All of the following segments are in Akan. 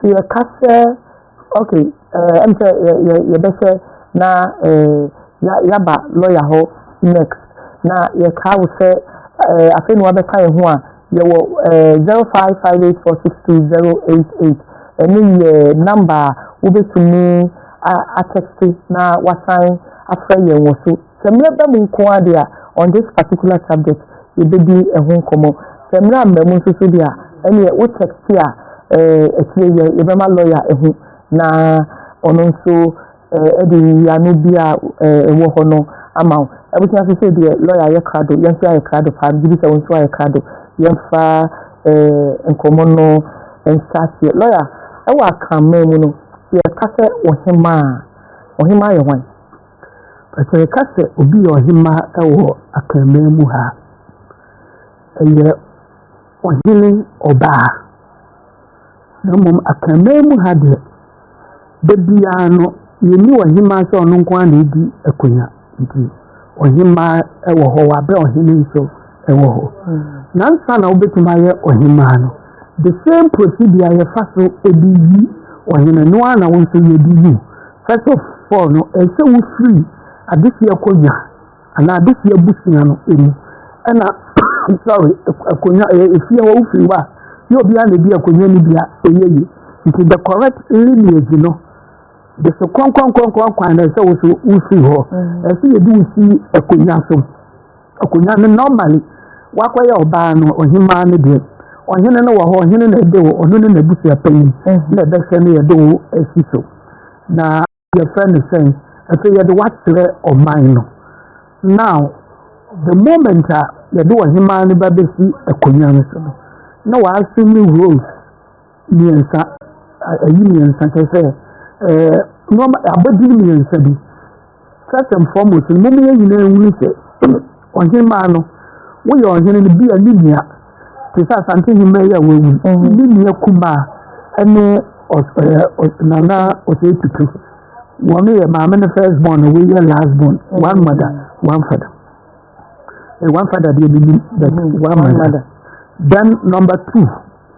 Sɛ yɛka sɛ, okay, eh, ɛm sɛ yɛbɛhwɛ na eh, yɛaba lɔya hɔ next na yɛka wo sɛ eh, afei na wabɛka yɛ ho a yɛwɔ eh, 0558462088 ɛno yɛ namba a wobɛtumi atɛkte na wasan afrɛ yɛn wɔ so Sɛ mmerɛ ba mu nko ara deɛ a, on this particular subject, yɛbɛdi ɛho nkɔmmɔ. Sɛ mmerɛ amma mu nso so deɛ a, ɛnneɛ wo text a ɛteɛ yi, yɛbɛma lɔya ahu na ɔno nso de nyiyiano bi a ɛwɔ hɔ no ama wo. Abusua sesei deɛ lɔya ayɛ krado, yɛn nso yɛayɛ krado paa, megye di sɛ wo nso ayɛ krado. Yɛmfa nkɔmmɔ no nhyɛ aseɛ. Lɔya, ɛwɔ Akanman mu no, sɛ yɛka sɛ Ɔhemaa a, Ɔhemaa yɛ hwan? Fa sɛ yɛka sɛ obi yɛ ɔhemmaa wɔ Akanman mu ha a, ɛyɛ ɔhene ɔbaa. Na mmom Akanman mu ha deɛ, da biara no, yɛnni ɔhemmaa sɛ ɔno nko ara na ɛdi akonnwa. Nti ɔhemmaa wɔ hɔ, wabɛ ɔhene nso wɔ hɔ. Na nsa na wobɛtumi ayɛ ɔhemmaa no, the same procedure yɛfa so de yi ɔhene no ara na wo nso yɛde yi wo. First of all no, ɛsɛ sɛ wofiri adesua akonnwa anaa adesua abusua no mu ɛna sorry akonnwa ɛyɛ efie hɔ wofiri hɔ a yɛ obi a na edi akonnwa no bi a ɛyɛ yi nti the correct lineage no de so kɔnkɔnkɔnkɔn kwan na ɛsɛ woso wofiri hɔ ɛsɛ yɛde wosi akonnwa so. Akonwa no normally wakɔyɛ ɔbaa no ɔhemaa no deɛ ɔhene no wɔ hɔ ɔhene na ɛde wo ɔno ne n'abusua panyin na ɛbɛhwɛ no yɛde wo asi so na yɛfrɛ no sɛn afei yɛde wakyerɛ ɔman no now the moment a yɛde ɔhemaa no ba bɛsi akonwa no so no na waasum ne rose mmiɛnsa, ayi mmiɛnsa kyɛ sɛ ɛɛ nneɛma abaduru mmiɛnsa bi. First and foremost, mo mu yɛn nyinaa nwunu sɛ ɔhemaa no, woyɛ ɔhene no bi a ne nua te sɛ asante hemaa yi a wawu, ne nua kumaa ɛne nana ɔsɛ tutu. Wɔn yɛ maame no first born na woyɛ last born, one mother, one father. Eh, one father deɛ menim, but one mother. Then number two.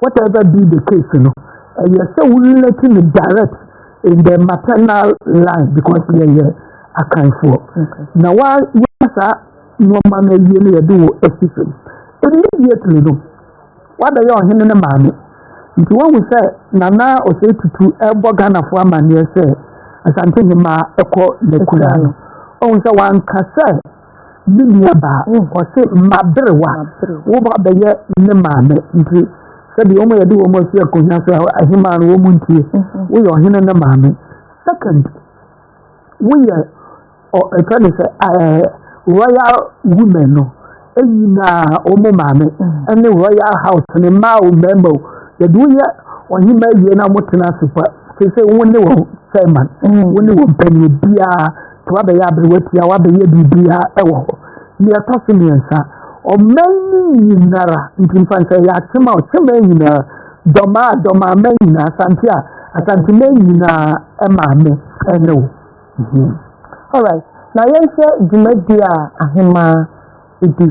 Whatever be the case no, ɛyɛ sɛ wo relate no direct in the maternal line because yɛyɛ akanfoɔ. Na wa yɛ saa nneɛma no awie no yɛde wo asi fam. Immediately no, wabɛyɛ ɔhene ne maame. Nti wahu sɛ Nana Osei Tutu ɛrebɔ Ghanafoɔ amanneɛ sɛ Asante Hemaa ɛkɔ n'akuraa no. Ɔhu sɛ wanka sɛ Ne nua baa ɔse maberewa wo ba bɛyɛ ne maame nti sɛdeɛ wɔn yɛde wɔn asi akonya so ahemaa no wɔn ntie mm-hmm. woyɛ ɔhene ne maame second woyɛ ɛfɛ ne sɛ royal women no nyinaa wɔn maame mm-hmm. ne royal house ne mmaa o mmarima o yɛde woyɛ ɔhema awie na wɔtena ase pa sɛ sɛ wɔn ne wɔn chairman mm-hmm. wɔn ne wɔn panyin biara. nti wabɛyɛ aberewa tia wabɛyɛ biribiara wɔ hɔ nea ɛtɔ so mmiɛnsa ɔman no nyinara nti mfa nsɛ yɛ akyema ɔkyema nyinaa dɔmaa dɔmaa mɛ nyinaa asante a asante mɛ nyinaa ɛmaa me ɛne wo mhm. alright na yɛnhwɛ dwumadi a ahemaa Ebi,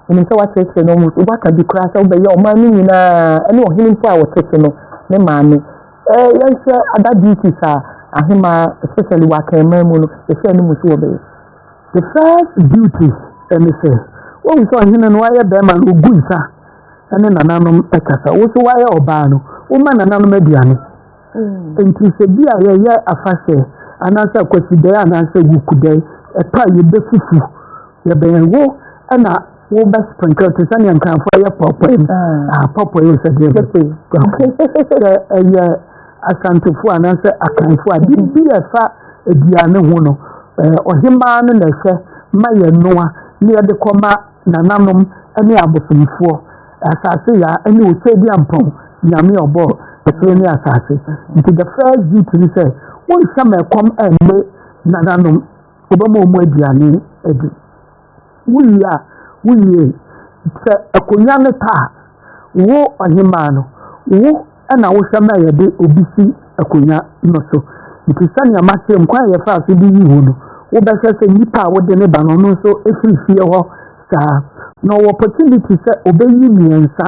menim sɛ woakyerɛkyerɛ no almost, woaka bi koraa sɛ wobɛyɛ ɔman no nyinaa, ɛne ɔhene mpo a wɔte so no, ne maame. Eh, yɛnhwɛ other duties a ahemaa, especially wɔ akanman mu no, yɛhyɛ no mu so wɔbɛyɛ. The first duty ɛne sɛ, wohu sɛ ɔhene no wayɛ bɛrima no, ogu nsa ɛne nananom ɛkasa, wo so wayɛ ɔbaa no, woma nananom aduane. Mm. Nti sɛ bi a yɛyɛ afahyɛ, anaasɛ akwasidɛe anaasɛ wukudɛe, ɛtɔ a yɛbɛfufu. Yɛbɛn wo ɛna wo bɛ sprinkle te sɛ nea nkanfo ayɛ pɔpɔ yi ah pɔpɔ yi sɛ deɛ bɛ sɛ ɛyɛ asantefo anaasɛ akanfo a biribi a ɛfa aduane ho no ɔhemaa no na ɛsɛ ma yɛ noa ne yɛde kɔma nananom ne abosomfoɔ asase ya ne osɛdi ampɔn nyame ɔbɔ ɛsoro ne asase nti the first duty ne sɛ wonhyɛ ma ɛkɔm ɛnne nananom Wobɛma wɔn aduane adi. Wowie a, wowie. Sɛ akonnwa no ta a, wo ɔhemaa no, wo na wohwɛ ma yɛde obi si akonnwa no so. Nti sɛnea makyerɛ mu, kwan a yɛfaa so de yii wo no, wobɛhwɛ sɛ nipa a wode no ba no, ɔno nso firi fie hɔ saa. Na ɔwɔ opportunity sɛ obeyi mmiɛnsa.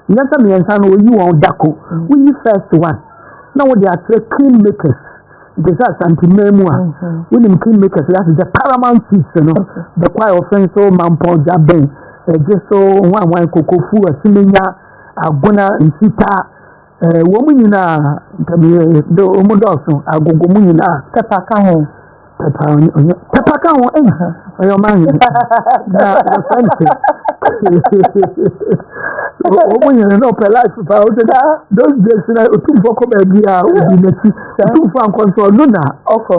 Nyɛ sɛ mmiɛnsa no, oyi wɔn dako. Woyi first one, na wode akyerɛ king makers. nti sɛ asanteman mu a wonim kingmakers yɛ ase sɛ paramount chiefs no bɛkɔ a wɔfɛn so mampɔn gya bɛn ɛgye so nwanwan kokofu asimenya agona nsita ɛɛ wɔn nyinaa ntɛmiyɛ de wɔn dɔɔso agogo mu nyinaa pɛpa ka ho pɛpa ɔnyɛ pɛpa ka ho ɛyɛ ɔyɛ ɔman yɛn na wɔfɛn so. Sọba ọmụ nyere na ọpẹ life pa o dada those days na otumfo kọ baabi a obi n'akyi otumfo ankọ nso ọno na ọkọ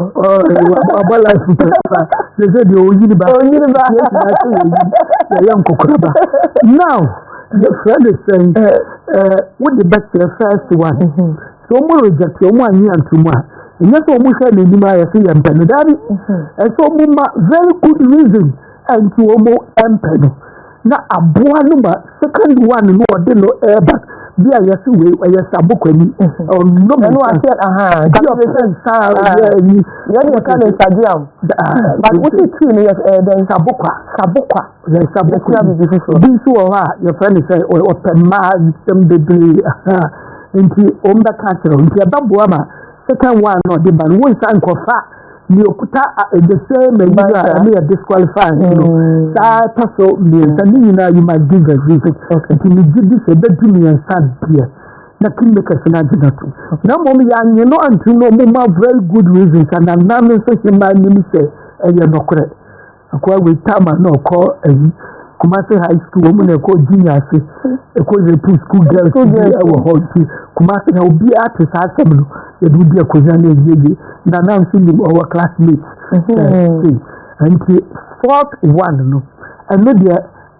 ọba life pa pa sese deɛ oyi ni ba oyi ni ba yɛ ti n'akyi oyi na yɛ nkokora ba now yɛ fɛ ne sɛn ɛɛ wodi bɛ kyerɛ first one so ɔmo reject ɔmo anyi antum a ɛnyɛ sɛ ɔmo hwɛ n'anim ayɛ sɛ yɛ mpɛ no daabi ɛsɛ ɔmo ma very good reason. nti wɔn mpɛ no na aboa no ma second one no ɔde no ɛɛba bi a yɛsi wei ɛyɛ sabokwani ɔnom ɛno ase ahaa bi ɔpɛ nsa yɛ ɛyi yɛn yɛ ka ne stadium but wosi tii no yɛ ɛyɛ dɛn sabokwa sabokwa yɛ sabokwa bi bi foforɔ bi nso wɔ hɔ a yɛfrɛ ne sɛ ɔpɛ mmaa nsɛm bebree ahaa nti wɔn bɛka kyerɛ nti ɛbɛboa ma second one no ɔde ba no wɔn nsa nkɔfa. Deɛ okuta a the same Nigeria a ɛne yɛ disqualify no mm. saa ɛtɔ so mmiɛnsa ne nyinaa you might give a reason nti ne gye di sɛ ɛbɛdu mmiɛnsa deɛ na kingmakers no agye na to na mmom yɛanye no anto no ɔmo ma very good reasons ananam nso hyɛ maa nim sɛ ɛyɛ nɔkorɛ Akoa Wetama na ɔkɔ ayi Kumasi high school wɔn na ɛkɔ junior ase ɛkɔ yɛpu school girls bi ɛwɔ hɔ nti Kumasi na obiara te saa asɛm no yɛde wodi akonnwa na ɛyie yie na na nso nim ɔwɔ classmate ɛɛ nti fourth one no ɛno deɛ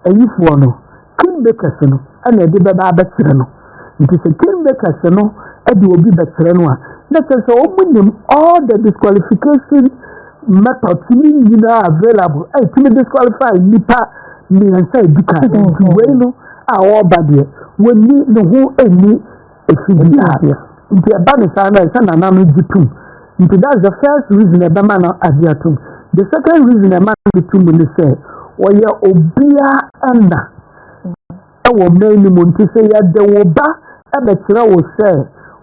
ayifoɔ no. Kingmakers no na ɛde bɛba abɛkyerɛ no. Nti sɛ kingmakers no de obi bɛkyerɛ no a, na kyerɛ sɛ wɔn nim all the disqualification methods ne nyinaa available a ɛtumi disqualify nipa mmiɛnsa edi kan. Nti wei no a wɔreba deɛ, wɔnni ne ho nni Efi bi a nti ɛba ne saa na ɛsɛ nana no gye tom nti that's the first reason ɛbɛma no agye atom the second reason ɛma no gye tom ne sɛ wɔyɛ obia ɛna ɛwɔ mmaa no mu nti sɛ yɛde wo ba ɛbɛkyerɛ wo sɛ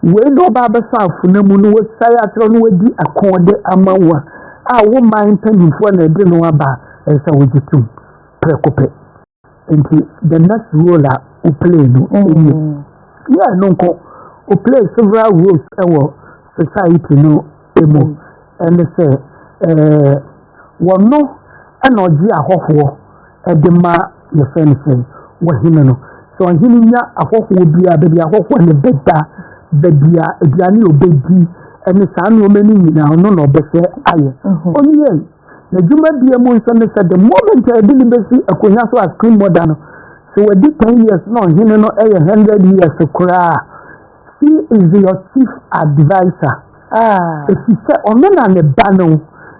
wei na ɔba abɛfa afona mu no wɔsae akyerɛ no wadi akɔɔde ama wo a a wo man mpanimfoɔ na ɛde no aba ɛsɛ wogye tom prɛko pɛ Nti the next role a o play no mm. ɛyɛ yɛ ɛno nko o play several roles ɛwɔ society no ɛmu mm. ɛne sɛ ɛɛ wɔno ɛna ɔgye ahɔhoɔ ɛde ma yɛfɛ no sɛ wɔhene no sɛ ɔhene nya ahɔhoɔ biara baabi ahɔhoɔ ne bɛda baabi a aduane a ɔbɛdi ɛne saa nneɛma no nyinaa ɔno na ɔbɛsɛ ayɛ ɔno yɛ Na dwumadie mu nso ne sɛ the moment a ɛde ne bɛsi akonnwa so as queen mother no sɛ wadi ten years na ɔhene no ɛyɛ hundred years koraa she is your chief adviser ɛfi ah. sɛ ɔno na ne ba no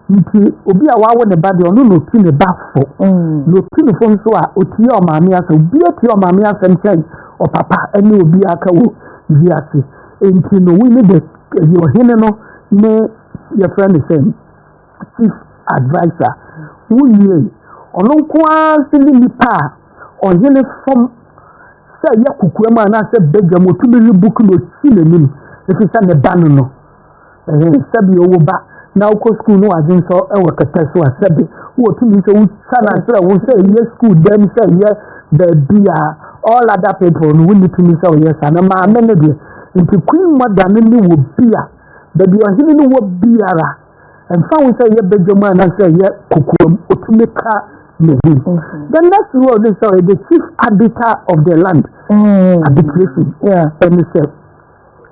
nti obi a wawo ne ba deɛ ɔno na ɔti ne ba fo mm. na ɔti ne fo nso a ɔtie ɔmaame asɛm obi atie ɔmaame asɛm kyɛn ɔpapa ne obi aka wɔ wiase nti no wone de ɔhene no ne yɛfrɛ ne sɛn Chief Adviser, wo nwiei. Ɔno nko ara nso ne nipa a ɔhene fam sɛ ɛyɛ kokoam anaasɛ badwam otumi we book na osi n'anim efisɛ ne ba no no. Ɛhɛ sɛbi ɔwɔ ba na wokɔ sukuu no wadwe nsɔ wɔ kɛtɛ so a sɛbi wotumi sɛ wotwa no akyerɛ wo sɛ ɛyɛ sukuu dɛm sɛ ɛyɛ baabi a all other people no wonni tumi sɛ ɔyɛ saa na maame no deɛ nti queen mother no ne wɔ bi a baabi ɔhene no wɔ biara ɛmfa ho sɛ yɛ badwa mu anaasɛ yɛ kokoa mu ɔtumi ka ne din the next word is sorry the chief arbiter of the land mm. arbitration ɛne sɛ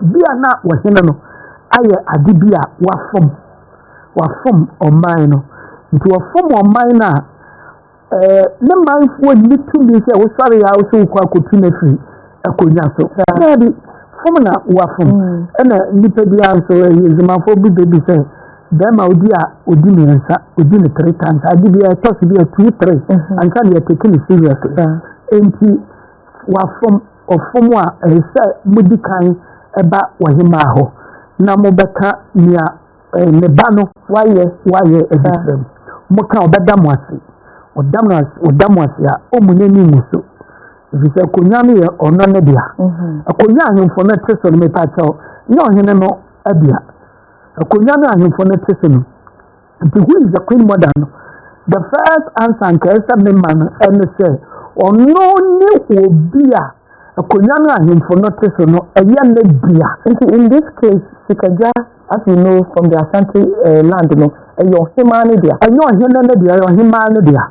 bi a na wɔhene no ayɛ ade bi a wafom wafom ɔman no nti wɔfom ɔman no a Ɛɛ, ne manfoɔ nni tumi sɛ wosɔre a wosɛ wokɔ akɔtu no afiri akonnwa so. Daabi, fom na wafom. Mm. Ɛna nnipa bi a nso ɛyɛ adwumafoɔ bi bɛbi sɛ bɛrima odi a odi mmiɛnsa odi ne three times ade bi a ɛtɔ so bi a two three mm-hmm. anka ne yɛteke ne seriously nti wafom ɔfom a ɛsɛ modi kan ɛba wɔhemaa hɔ na mobɛka nea Eh, me ba no wayɛ wayɛ abisira mu mo ka ɔbɛda mo ase ɔda mo ase ɔda mo ase a ɔmu n'ani mu so efisɛ akonnwa no yɛ ɔno ne dea mhm. akonnwa ahemfo no te so no mepa kyɛw nyɛ ɔhene no adea akonnwa no ahemfo no te so no nti who is the queen mother no the first answer nka ɛsɛ me ma no ɛne sɛ ɔno ne obi a akonnwa no ahemfo no te so no ɛyɛ ne dea nti in this case sikagya As you know from the Asante uh, land no, ɛyɛ ɔhemaa no dea. Ɛnyɛ ɔhene no dea, ɛyɛ ɔhemaa no dea.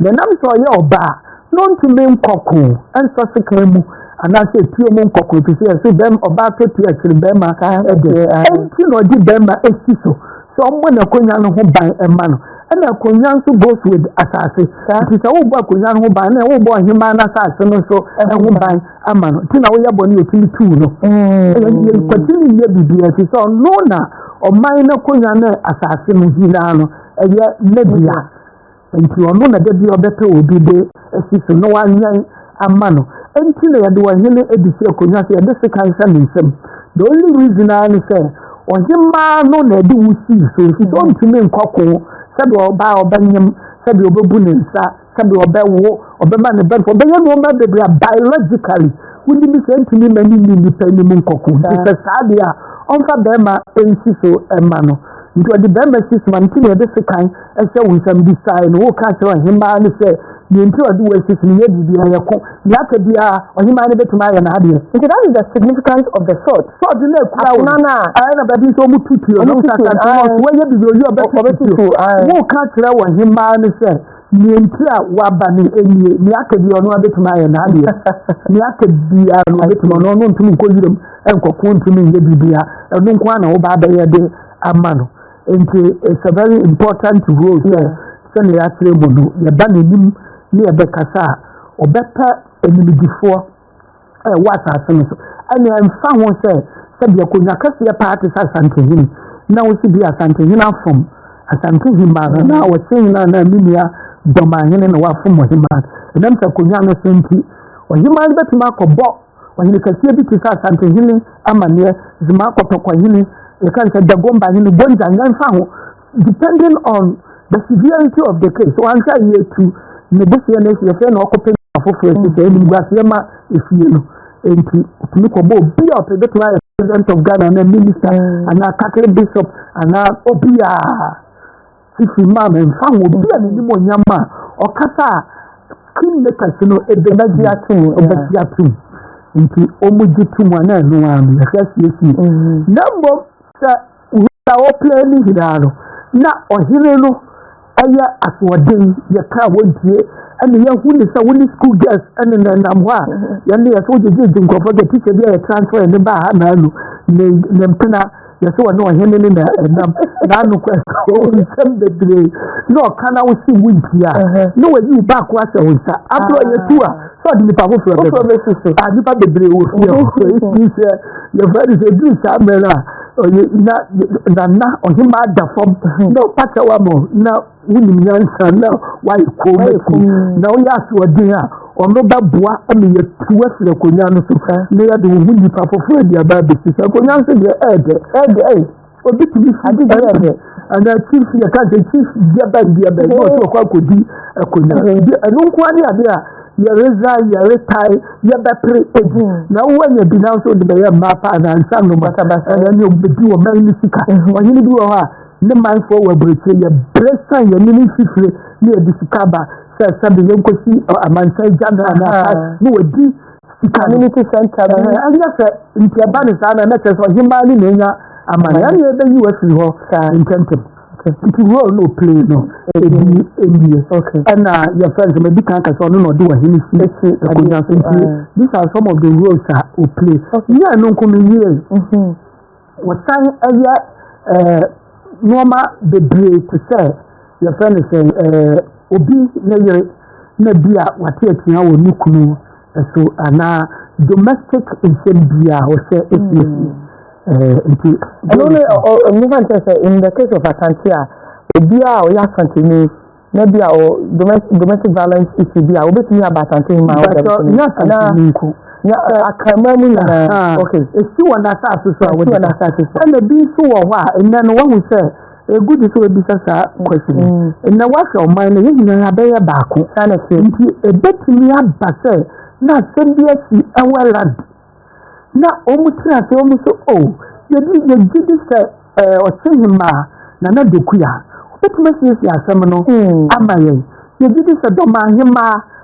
Na nam sɛ ɔyɛ ɔbaa na ɔntumi nkɔko ɛnsɔ sekan mu anaasɛ etuo mu nkɔko efi sɛ ɛsɛ bɛrima ɔbaa tɔ tuo akyiri bɛrima ɛde ɛnti na ɔde bɛrima esi so sɛ ɔmmɔ n'akonnwa no ho ban ɛma no ɛna akonnwa nso goes with asase nti sɛ wobɔ akonnwa no ho ban na wobɔ ɔhemaa no asase no nso ɛho ban ama no nti na woyɛ bɔne yɛtumi tuu no yɛkwatiri mm. nyɛ biribiaa ti sɛ ɔno na ɔman no akonnwa ne asase no nyinaa no ɛyɛ n'adua nti ɔno na dabi ɔbɛpɛ obi de asi so na wanyɛn ama no nti na yɛde ɔhene adi si akonnwa sɛ yɛde sekan hyɛ ne nsam the only reason ara ne sɛ ɔhemaa no na ɛde wo sii so nti sɛ ɔntumi nkɔko sɛdeɛ ɔbaa ɔbɛnyem sɛdeɛ ɔbɛbu ne nsa sɛdeɛ ɔbɛwo ɔbɛma ne bɛn ɔbɛyɛ nneɛma bebree a biologically wogye bi sɛ ntumi ma ne nni nnipa anim nkɔko nti sɛ saa deɛ a ɔmfa bɛrima nsi so ma no nti ɔde bɛrima si so ma no nti na yɛde sekan hyɛ wo nsɛm bi sae no woka kyerɛ ɔhemaa no sɛ deɛ nti ɔde wo asi so no yɛ biribi ayɛ ko deɛ aka biara ɔhemaa no bɛtumi ayɛ n'adeɛ nti that is the significance of the sword sword no akura wo no ɛyɛ na baabi nso ɔmo tutuo no nsasante no ɔso wɔyɛ biribi ɔyɛ ɔbɛtutuo woka kyerɛ ɔhemaa no sɛ Nea nti a waba ne nie, nea aka bi ɔno abɛtumi ayɛ n'adeɛ. Nea aka biara no ɔbɛtumi ɔno ɔno ntumi nkɔ wiram nkɔko ntumi nyɛ biribiara. Ɛno nko ara na woba abɛyɛ de ama no. Nti it's a very important role sɛ sɛnea yɛakyerɛ mu no, yɛba n'anim ne yɛbɛkasa a, ɔbɛpɛ animdefoɔ. ɛwɔ asase no so ɛne ɛmfa ho sɛ sɛdeɛ konwa kɛseɛ paa te sɛ asantehene na wosi bi asantehene afom asantehene ma no na wɔse nyina na me nua dɔmahene na wafom ɔhema ɛnam sɛ konwa no so nti ɔhema no bɛtumi akɔbɔ ɔhene kɛseɛ bi te sɛ asantehene amanneɛ zema kɔtɔkɔhene yɛka sɛ dagomba hene bonza nyɛmfa ho Depending on the severity of the case, wanhwɛ a yɛtu ne boseɛ no asi ɛsɛ na ɔkɔpɛ nipa foforɔ asi sɛ animguaseɛ ma efie no nti ɔtumi kɔbɔ obi a ɔpɛ bɛtumi ayɛ president of Ghana anaa minister mm. anaa Catholic bishop anaa obi a sisi maa mi nfa ho obi a n'anim onyam a ɔkasa a king makers no ebe na gye atum ebe gye atum nti wɔn gye tum a na ɛno ara no yɛhwɛ asiesie mm-hmm. na mbom sɛ. Wia a ɔpere ne nyinaa no, na ɔhene no yɛ asoɔden, yɛ kaa wɔntie, ɛna yɛhu ne sɛ wo ne school girls ɛne na nam hɔ a yɛne yɛ sɛ wogyegyegye nkurɔfoɔ sɛ tikya bi a yɛ transfer ne baa ha naa nu ne ne mpena yɛ sɛ wɔne ɔhene ne na ɛnam naa no kɔ nsɛm bebree na ɔka na wo se wontie a na wɔyi wo baako ahyɛ wo nsa aberɛ ɔyɛ tu a sɛ ɔde nipa foforɔ bɛbɛ nipa bebree wɔ fie hɔ ɛsi sɛ yɛfrɛ ne sɛ duru saa mmerɛ no a ɔyɛ na na na ɔhemaa da fam na ɔpata wa ma na wonim nyansa na wayɛ kɔn mɛti na woyɛ asoɔden a ɔno bɛboa ma yɛtu afiri akonnwa no so na yɛde wo ho nnipa foforɔ de aba abɛsi so akonnwa nso deɛ ɛɛdɛ ɛɛdɛ ɛyɛ obi tumi fi ade deɛ ɛɛdɛ ana chief yɛ ka sɛ chief deɛ bɛn deɛ bɛn na ɔsɛ ɔkɔ akɔdi akonnwa ɛno nkoa ne adeɛ a yɛredza yɛretae yɛbɛpere egu na wo anya bi nanso de bɛyɛ mmaa paa na nsa nnoma Basabasa. ɛna ne obedi ɔman no sika ɔhene bi wɔ hɔ a ne manfoɔ wɔ aburokyire yɛbrɛ san yɛne ne mfifire ne yɛde sika ba sɛ sɛbe yɛnkɔsi ɔ, amansan agya no anaa Aha. paa ne wadi sika no Community center bi. Ɛhɛn, ɛnyɛ sɛ nti ɛba ne saa na ɛmɛkyerɛ sɛ ɔhemaa ne na anya amane ɛne ɛbɛyi wafiri hɔ Saa. ntɛmntɛm Nti role no play no ɛdi ɛnie ɛna yɛ friends ma ɛdi kan kasa ɔno na ɔde wahene si akonnwa so nti these are some of the roles a o play yɛ ɛno nko no yie wɔsan ɛyɛ ɛɛ nneɛma bebree te sɛ yɛ friends ɛɛ obi ne yere na bi a wate atua wɔ ne kunu. So anaa domestic nsɛm biara a wɔsɛ esiesie ɛɛ nti. ɛno ne ɔ ɔ nfa nkyɛn sɛ in the case of asante a obiara a ɔyɛ asanteni na bi a ɔ domestic domestic violence issue bi a obetumi aba asante ma ɔda bi na asanteni nko na akanman mu nyinaa okay esi wɔn asase so a wɔde ɛna bi nso wɔ hɔ a nnɛ no wɔn sɛ. Egu di sɛ wabisa saa question yi. Mm. Na wahwɛ ɔman no, yɛn nyinaa bɛyɛ baako. Nti ebetumi aba sɛ na asɛm bi asi ɛwɔ Ireland. Na wɔn tiri ase wɔn so o oh, yɛdi yɛgye di sɛ ɛɛ eh, ɔkye hemaa na na dokuya. Obetumi asiesie asɛm no mm. ama yɛn. Yɛgye di sɛ dɔm ahemaa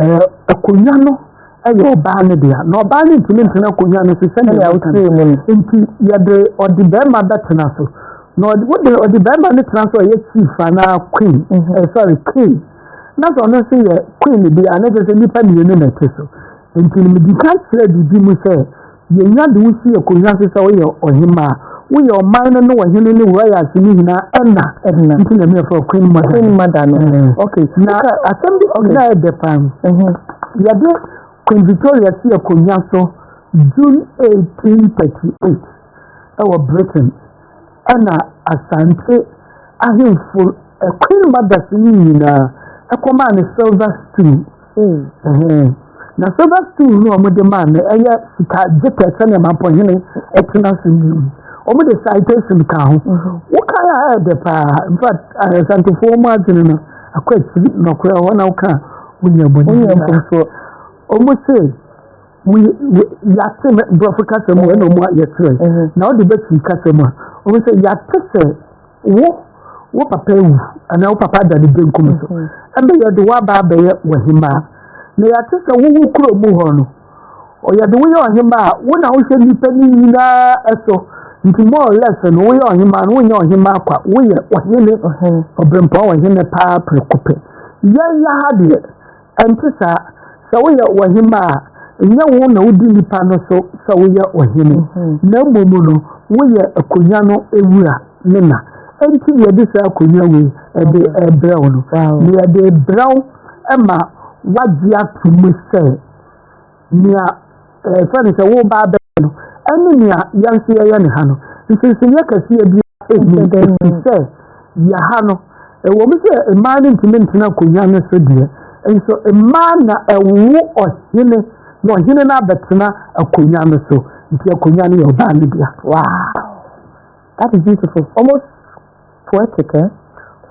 ɛɛ akonnwa no yɛ ɔbaa no dea na ɔbaa no ntumi ntena akonnwa no so sɛnea wotiri mu no nti yɛde ɔde barima bɛtena so na wode ɔde barima no tena so a ɔyɛ chief anaa queen mhm. eh, sorry king na sɛ ɔno nso yɛ queen bi a na kyerɛ sɛ nnipa mmienu na ɛte so nti no medi ka kyerɛ biribi mu sɛ Yenya de wo si akonwa so sɛ woyɛ ɔhemmaa. Woyɛ ɔman no ne ɔhene ne royalty no nyinaa ɛna. Ɛna. Nti na ɛmɛ fɔ queen mother. Queen mother no. Eh. Okay. Na okay. asɛm bi okay. na ɛdɛ paa. Mhm. Yɛde Queen Victoria si akonwa so June 1838 ɛwɔ Britain. na Asante ahemfo Queen mothers no nyinaa ɛkɔmaa no silver stool mm. na silver stool no wɔn de maa no ɛyɛ sika gye pɛ sɛnea mampɔhene ɛtena so no wɔn de citation ka ho mm-hmm. wokan a ɛyɛ dɛ paa in fact Asantefoɔ mu adwene no akɔ akyiri nɔkorɛ hɔ na woka wonya bɔne wɔn se yɛate no borɔfo kasa mu ɛna ɔmo ayɛ kyerɛ mhm. na ɔde bɛtwi kasa mu a ɔmo sɛ yɛate sɛ wo wo papa ewu anaa wo papa ada ne benkum so mhm. ɛna yɛde waba abɛyɛ wɔhemaa na yɛate sɛ wo wo kuro mu hɔ no ɔyɛde woyɛ ɔhemaa wo na wohwɛ nipa ne nyinaa ɛso nti more or less no woyɛ ɔhemaa no wonyɛ ɔhemaa kwa woyɛ ɔhene ɔbɛnpɔn ɔhene paa pere kopɛ yɛn yɛ ha deɛ. Ɛnte saa. Sɛ woyɛ ɔhemmaa a, ɛnyɛ wo na wodi nnipa no so sɛ woyɛ ɔhene, na mmom no, woyɛ akonnwa no wura ne na. Enti na yɛde saa akonnwa wei de rebrɛ wo no, na yɛde rebrɛ wo ma woagye atom sɛ, nea ɛfɛ no sɛ woreba abɛyɛ no ne nea yɛn nso yɛyɛ ne ha no, nsonsonoeɛ kɛseɛ biara nni mu ɛfiri sɛ yɛ ha no, ɛwɔ mu sɛ mmaa no ntumi ntena akonnwa no so deɛ, nso mmaa na ɛwo ɔhene na ɔhene no abɛtena akonnwa no so, nti akonnwa no yɛ ɔbaa no dea. Wow! That is beautiful. Almost Poetic, eh?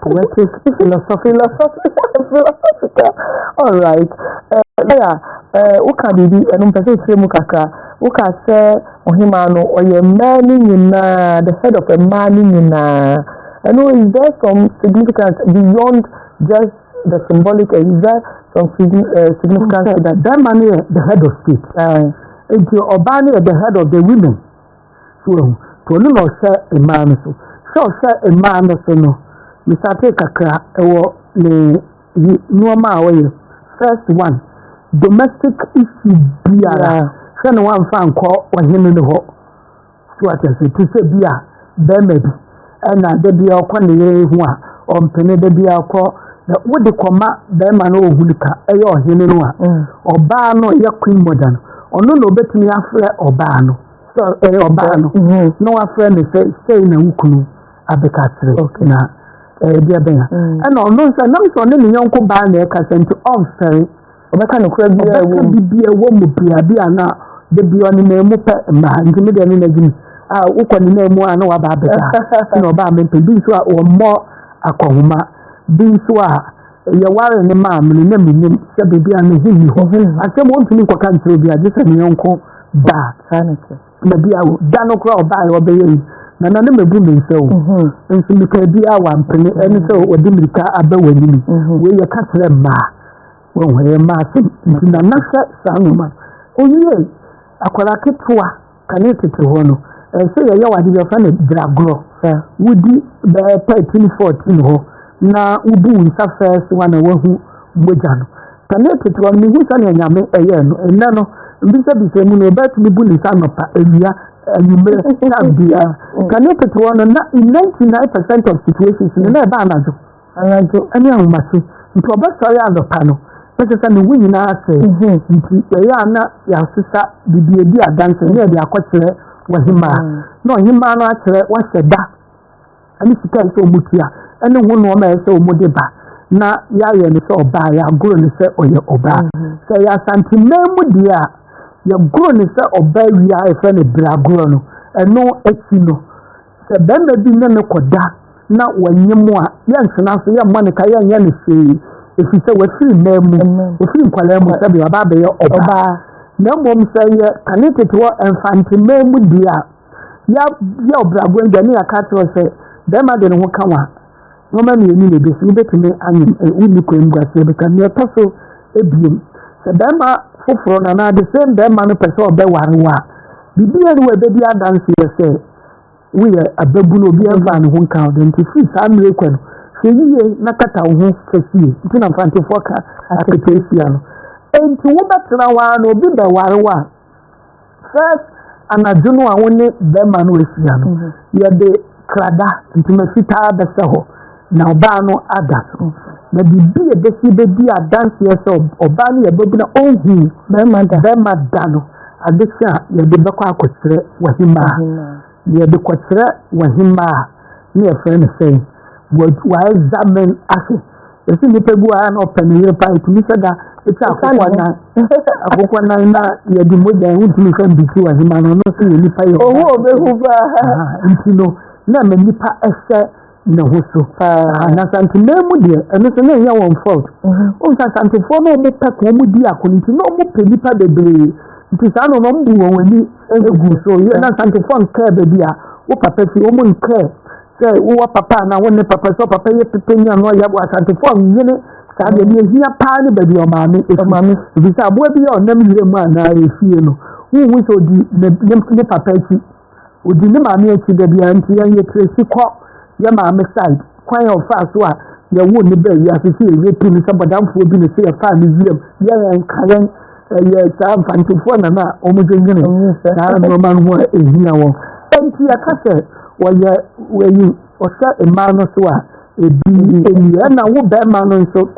Poetic, philosophy, philosophy, philosophical. All right. Eh, lawyer, eh, woka biribi, ɛno mpɛ sɛ ɛkyerɛ mu kakra. Woka sɛ ɔhemaa no, ɔyɛ mmaa no nyinaa, the head of mmaa no nyinaa. Ɛno, is there some significance beyond just the symbolic, eh, is there some eh, significance to that? Bɛrima no yɛ the head of state. Nti ɔbaa no yɛ the head of the women. So wahu? To ɔno na ɔhwɛ mmaa no so. Sɛ ɔhwɛ mmaa no so no, mesate kakra wɔ ne yi nneɛma a ɔyɛ. First one, domestic issue biara, hwɛ na wamfa nkɔ ɔhene no hɔ. So ate ase, te sɛ bi a bɛrima bi ɛna da bi a ɔkɔ ne yere ho a ɔmpene da bi a ɔkɔ na wode kɔma bɛrima no ɔhu no ka ɛyɛ ɔhene no a ɔbaa no yɛ queen mother no ɔno na ɔbɛtumi afrɛ ɔbaa no sɛ ɔbaa no na wafrɛ no sɛ sɛi na wo kunu abɛka kyerɛ na ɛdeɛ bɛn a ɛna ɔno nso ɛnam sɛ ɔne ne yɔnko baa na ɛka sɛ nti ɔmfɛre ɔbɛka nokorɛ biaa wɔ mu bibia wɔ mu bia bi a na da bi ɔne na mu pɛ mmaa nti me deɛ ne na gyimi a wokɔ ne na mu a na waba abɛka na ɔbaa mempɛ bi nso a wɔmmɔ akɔhoma bi nso a Yɛwaree no maa me no, na menim sɛ baabi a ne ho nni hɔ. Asɛm ontumi nkɔka nkyerɛ obiara gye sɛ ne yɔnko ba. Na bia o, da no koraa ɔbaeɛ ɔbɛyɛ yi, na na ne mabu me nsa o. Nso mekaa biara wampene, ɛne sɛ ɔde mmirika aba w'anim. Wei yɛka kyerɛ mmaa, wɔhu ɛyɛ mmaa asɛm. Nti na na hwɛ saa nneɛma no. Owiee, akwadaa ketewa. Kane tete hɔ no, ɛsɛ yɛyɛ wade bi ɔfrɛ no dragorɔ. Wodi bɛɛ thirteen fourteen hɔ na wobu wo nsa first one a wahu mogya no. Kane tete hɔ no mehu sɛnea Nyame ɛyɛɛ no. Nnɛ no mbisabisa mu no ɔbɛtumi bu ne nsa anɔpa, awia, anwummerɛ, time biara. Kane tete hɔ no na in ninety nine percent of situations no na ɛba anadwo. Anadwo ne ahomakye nti ɔbɛsɔre anɔpa no na kyerɛ sɛ ne ho nyinaa sɛe nti yɛyɛ a na yɛasesa biribi edi adanse na yɛde akɔkyerɛ w'ɔhemaa na ɔhemaa no akyerɛ w'ahyɛ da ne sika a ɛsɛ sɛ wɔtua ne ho nnoɔma a ɛsɛ sɛ wɔde ba na yɛayɛ no sɛ ɔbaa yɛagoro no sɛ ɔyɛ ɔbaa sɛ yɛ asanteman mu deɛ a yɛgoro no sɛ ɔbaa wie a yɛfrɛ no berɛ agorɔ no ɛno akyi no Sɛ barima bi ne no kɔda na wannye mu a, yɛntena ase, yɛmmɔ no ka, yɛnyɛ no hwee, ɛfiri sɛ wafiri mmaa mu, wafiri nkwadaa mu sɛdeɛ ɔba abɛyɛ ɔbaa. Na mmom sɛ yɛ kane tete wɔ mfante mmaa mu deɛ a, yɛayɛ ɔbraboa dwa ne yɛaka akyerɛ sɛ barima de ne ho ka wa nneɛma mmienu na ɛbɛsi, wobɛtumi anyem, wonni kwan mu aseɛ bɛka. Nea ɛtɔ so ebien, sɛ barima foforɔ no anaa the same barima no pɛ sɛ ɔbɛware wo a, biribiara ni wɔ ɛbɛdi adanseɛ sɛ woyɛ ababunu obiara mfaa ne ho nka wo de nti firi saa mmerɛ kɔ no hwɛ yie na kata wo ho fɛsie nti na mfantefoɔ ka aketesia no nti wobɛtena hɔ ara na obi bɛware wo a first anadwo no a wo ne bɛrima no ahyia no yɛde krada ntoma fitaa bɛsɛ hɔ Na ɔbaa no ada so. Na biribi a ɛbɛsi bɛdi adanseɛ sɛ ɔbaa no yɛ babu na ɔnhu bɛrima da no adekye a yɛde bɛkɔ akɔkyerɛ wahimmaa. Na yɛde kɔkyerɛ wahimmaa a na yɛfrɛ no sɛn? Waexamen ahwɛ. Yɛsɛ nnipa bi wɔ ha na ɔpɛ ne yere paa ɛtumi sɛ da ɛtwa akokɔ nan akokɔ nan na yɛde mogya yɛn wontumi sɛ mbikyi wahimmaa no ɔno nso yɛ nipa yɛ ɔhu ɔbɛhu paa nti no na ma nipa ɛsɛ ne ho so ah. na santemaa mu deɛ ɛno so na ɛnyɛ wɔn fault mhm. o nsa santefoɔ na wɔn pɛ kɔn mu di ako nti na wɔn pɛ nipa bebree nti saa na wɔn bu wɔn ani egu so yɛ na santefoɔ nkɛɛ baabi a wɔ papa fi wɔn nkɛɛ sɛ wɔ papa na wɔn ne papa sɛ papa yɛ pepe ni ano yɛ wɔ asantefoɔ nyene saa deɛ deɛ ehia paa ne baabi ɔmaame efi ebi sɛ aboa bi yɛ ɔnam yire mu anaa efie no huhu sɛ odi ne ne papa akyi. odi ne maame akyi da biara nti yɛnyɛ tracy kɔ yɛ maame side kwan a ɔfaa so a yɛwo ne bɛɛ wiase sɛ yɛyɛ tu ne sɛ bɔdamfoɔ bi ne sɛ yɛfaa ne wiram yɛ yɛn ka yɛn ɛyɛ saa mfantefoɔ nana a wɔdwendwene saa nnoɔma no ho a ɛhia wɔn ɛnti yɛka sɛ wɔyɛ wɔyi ɔhyɛ mmaa no so a ebi ɛni ɛna wo bɛrima no nso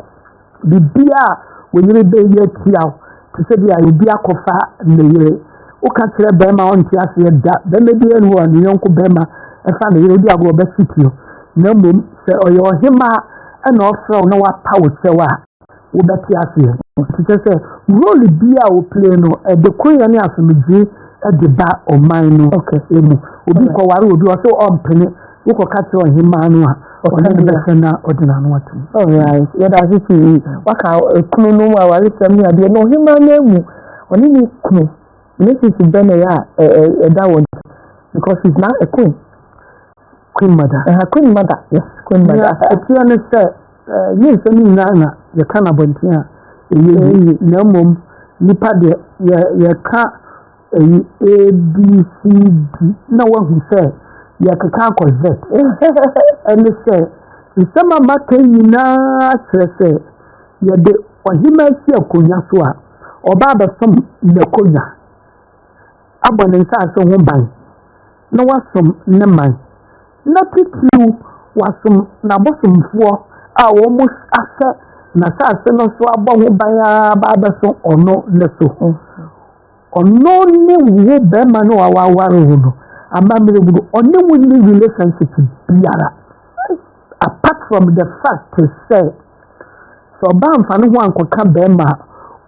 biribiara a wo yere bɛyɛ atia wo te sɛ bi a obi akɔfa ne yere woka kyerɛ bɛrima a ɔnte aseɛ da bɛrima bi ɛnu hɔ a ne yɔnko bɛrima ɛfa ne yere wodi agorɔ bɛsiti no na mmom sɛ ɔyɛ ɔhema ɛna ɔfrɛ wo na wapa wo kyɛw a wobɛte aseɛ te kyɛ sɛ role bi a woplee no ɛde koyɛ ne asomdwoe ɛde ba ɔman no mu obi kɔware obi ɔsɛ ɔmpene wokɔka kyerɛ ɔhemmaa no a ɔne no bɛsɛ na ɔde n'ano atom alright yɛda ase pii waka kunu no mu awaresɛm ne adeɛ na ɔhemmaa no amu ɔne ne kunu relationship bɛ na ɛyɛ a ɛda wɔn because she's now a queen queen mother ɛha queen mother yes queen mother ɛteɛ ne sɛ yɛ nsɛm nyinaa na yɛka no abɔnten a ɛyɛ yie na mmom nipa deɛ yɛka Eyi ABCD na wahu sɛ yɛkeka akɔ Z. Ɛne sɛ, nsɛm a maka yi nyinaa kyerɛ sɛ yɛde ɔhemmaa si akonnwa so a, ɔba abɛsom n'akonnwa, abɔ ne nsase ho ban, na wasom ne man, na titiriw wasom n'abosomfoɔ a wɔahyɛ n'asase no so abɔ ho ban ara ba abɛso ɔno ne so. Ɔno ne wo bɛrima no a waware wo no. Amammerɛ mu no, ɔne wo nni relationship biara apart from the fact sɛ sɛ ɔbaa mfa ne ho ankɔka bɛrima a,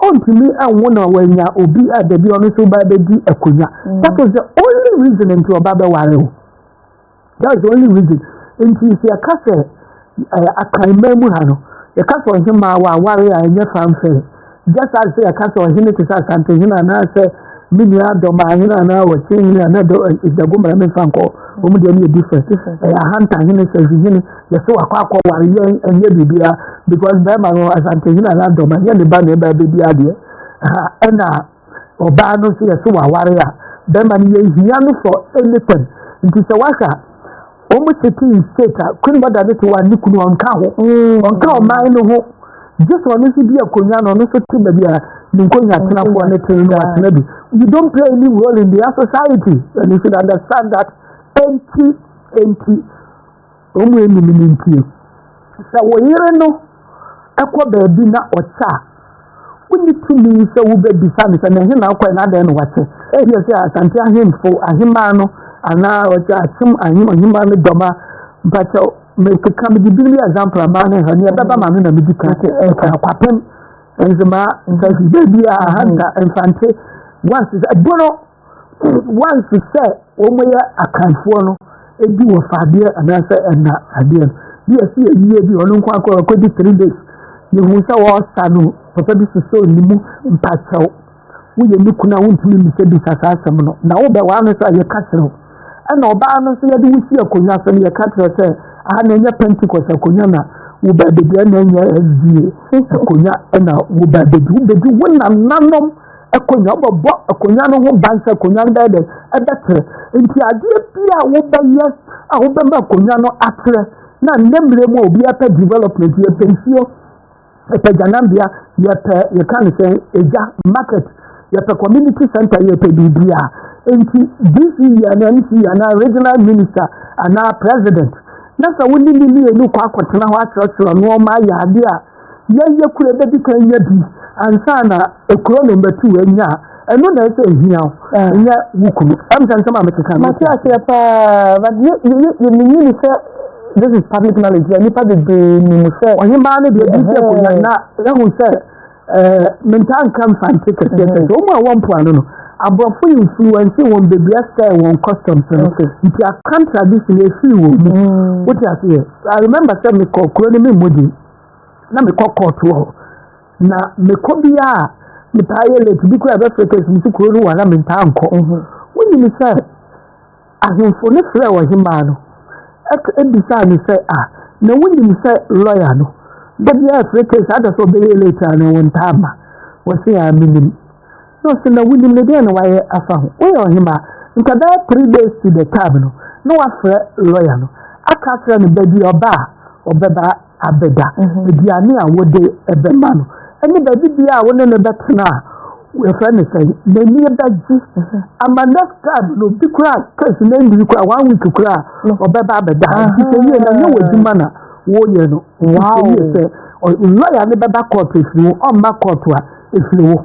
ɔntumi anwo na wanya obi a dabi ɔno nso ba bɛdi akonnwa. Mm. That is the only reason nti ɔba bɛware wo. That's the only reason. Nti sɛ yɛka sɛ ɛɛ akanman mu ha no, yɛka sɛ ɔhemaa wɔ aware a ɛnyɛ fanfare. Just as sɛ yɛka sɛ ɔhene te sɛ asantehene anaasɛ me nua dɔmaahene anaa ɔkyehene anaa dɔ ɛdago mmara memfa nkɔ wɔn deɛ no yɛ different. Ɛyɛ ahantahene sɛhwehene yɛsɛ wakɔ akɔ ware yɛn ɛnyɛ biribiara because bɛrima no asantehene anaa dɔma yɛ ne ba na ɛbaa bɛdi adeɛ. Ɛna Ɔbaa no nso yɛse waware a bɛrima no yɛ hia no for anything nti sɛ wahwɛ a wɔn sete in state a queen mother no te wɔ a ne kunu ɔnka ho mm. ɔnka ɔman no ho gye sɛ ɔno nso di akonnwa no ɔno nso te baabi a ne nkonnwa atenafoɔ no te no atena bi you don't play any role in their society and you should understand that enti enti Wɔn a ɛnni no ntie. Sɛ wo yere no kɔ baabi na ɔkyɛ a, wonni tumi sɛ wobɛbisa no sɛ na ɛhe na ɔkɔɛ na adɛn na wakyɛ. Ɛyɛ sɛ Asante ahemfo, ahemmaa no anaa ɔkyɛ akyem ahem ahemmaa no dɔm a mpakyɛ mekeka mede bi ne example a maa no ha ne ɛbɛba ma no na medi ka sɛ ɛka akwapem nso maa nsa si baabi a ahanta mfante wansi ɛbono once sɛ wɔyɛ akanfoɔ no ebi wɔ fa adeɛ anaasɛ ɛna adeɛ no bi a ɛsi ayie bi ɔno nko akɔ ɔkɔdi three days yehu sɛ wɔresa no papa bi sosɔ ne mu mpakyɛw woyɛ ne kuna wontumi mmisa bisa saa asɛm no na wobɛ waa no so a yɛka kyerɛ wo ɛna ɔbaa no nso yɛde wo si akonnwa so no yɛka kyerɛ sɛ aha na ɛnyɛ pentecost akonnwa na wo baabɛdi ɛna ɛnyɛ ɛdie akonnwa ɛna wo baabɛdi wobɛdi wo nananom akonnwa bɛbɔ akonnwa no ho ban sɛ akonnwa no bɛyɛ dɛ ɛbɛtrɛ nti adeɛ bi a wobɛyɛ a wobɛma akonnwa no atrɛ na nnɛ mmerɛ mu a obi apɛ development yɛpɛ nsuo yɛpɛ gyanambea yɛpɛ yɛka ne sɛ egya market yɛpɛ community center yɛpɛ biribi a nti dc yɛ anaa mc yɛ anaa regional minister anaa president na sɛ wo ne ne mmienu kɔ akɔtena hɔ akyerɛkyerɛ nneɛma ayɛ adeɛ a Yɛn yɛ kura bɛdi kan nya bi ansa na ekuro no mbɛtu yɛ nya ɛno na ɛsɛ ehia o ah. nyɛ wo kunu ɛmu sɛ nsɛm a mete kan mate aseɛ paa but yɛ yɛ yɛ menyini sɛ this is public knowledge yɛ nipa bebree nim sɛ ɔhemaa no deɛ ɛdi sɛ konya na ɛhu sɛ ɛɛ mentaa nka nfa nte kɛseɛ sɛ sɛ wɔn a wɔn mpo ano no aborɔfo influence wɔn beebi asɛ wɔn customs no nti akam tradition efiri wɔn mu wote aseɛ i remember sɛ mekɔ kuro no mi mu di. na mekɔ kɔɔto wɔ hɔ na mekɔ bi a metaa yɛ late bi koraa ɛbɛfrɛ kɛse mu sɛ kuro no wɔ na mentaa nkɔ mhm. wonim sɛ ahemfo no frɛɛ ɔhemaa no ɛbisaa no sɛ a na wonim sɛ lɔya no da biara frɛ kɛse ada sɛ ɔbɛyɛ late a na wɔntaa ma wɔse a menim Na ɔsɛ na wonim no deɛ na wayɛ afa ho. Woyɛ ɔhemaa, nka bɛyɛ three days to the time no, na wafrɛ lɔya no aka akyerɛ no baabi a ɔba a ɔbɛba abɛda, mhm. aduane a wode ɛbɛma no, ɛne baabi bia a wo ne no bɛtena a wɔfrɛ no sɛ n'ani bɛgye mhm. ama next time no bi koraa kɛse na nniri koraa one week koraa mhm. ɔbɛba abɛda nti sɛ yie na nyɛ w'adwuma na wɔyɛ no nti sɛ yie sɛ lɔya no bɛba kɔɔto ɛfiri wo ɔmma kɔɔto a ɛfiri wo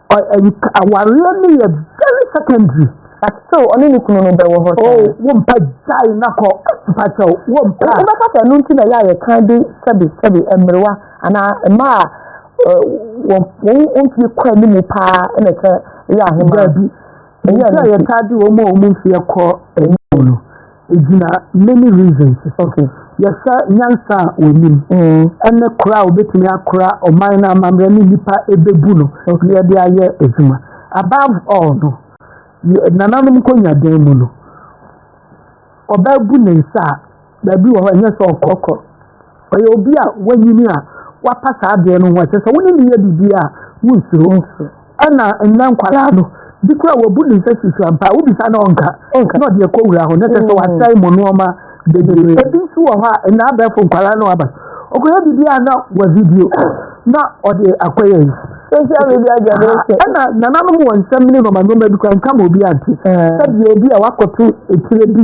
awareɛ no yɛ very secondary but still ɔne ne kunu no bɛwɔ hɔ oh wompa gyae na kɔ mpakyɛ wompa wobɛka sɛ ɛno nti na ɛyɛ a yɛka de sɛbe sɛbe mmerewa anaa mma a wɔn mfie kɔ anim paa na ɛkyɛ yɛ ahema bi ɛnyɛ yɛta de wɔn a wɔn mfie kɔ anim no Egyina many reasons so. Okay. Yɛhwɛ nyansa a wɔnim mm. ne kora a wɔbɛtumi akora ɔman no amammerɛ ne nnipa ɛbɛbu no na yɛde ayɛ adwuma. Above all no, nananom nkɔnyadan mu no, ɔbaa bu ne nsa a, baabi wɔ hɔ ɛnyɛ sɛ ɔkɔkɔ. Ɔyɛ obi a wanyini a wapa saa berɛ no ho. Ɛkyerɛ sɛ wo ne no yɛ biribi a, wonsuro. Ɛna nnɛ nkwadaa no, bi koraa wabu ne nsa susu ampa a, wobisa no a ɔnka, na ɔde akɔ wura hɔ, na kyerɛ sɛ wasɛe mo nnoɔma bebree. Ebi nso wɔ hɔ a, nnɛ abɛɛfo nkwadaa no aba, ɔkɔyɛ biribi a na wa video, na ɔde akɔyɛ yi. Social media generation. Ɛna nananom wɔ nsɛm ne nnoɔma nnoɔma bi koraa nka ma obi ante. Sɛdeɛ ebi a wakɔto etire bi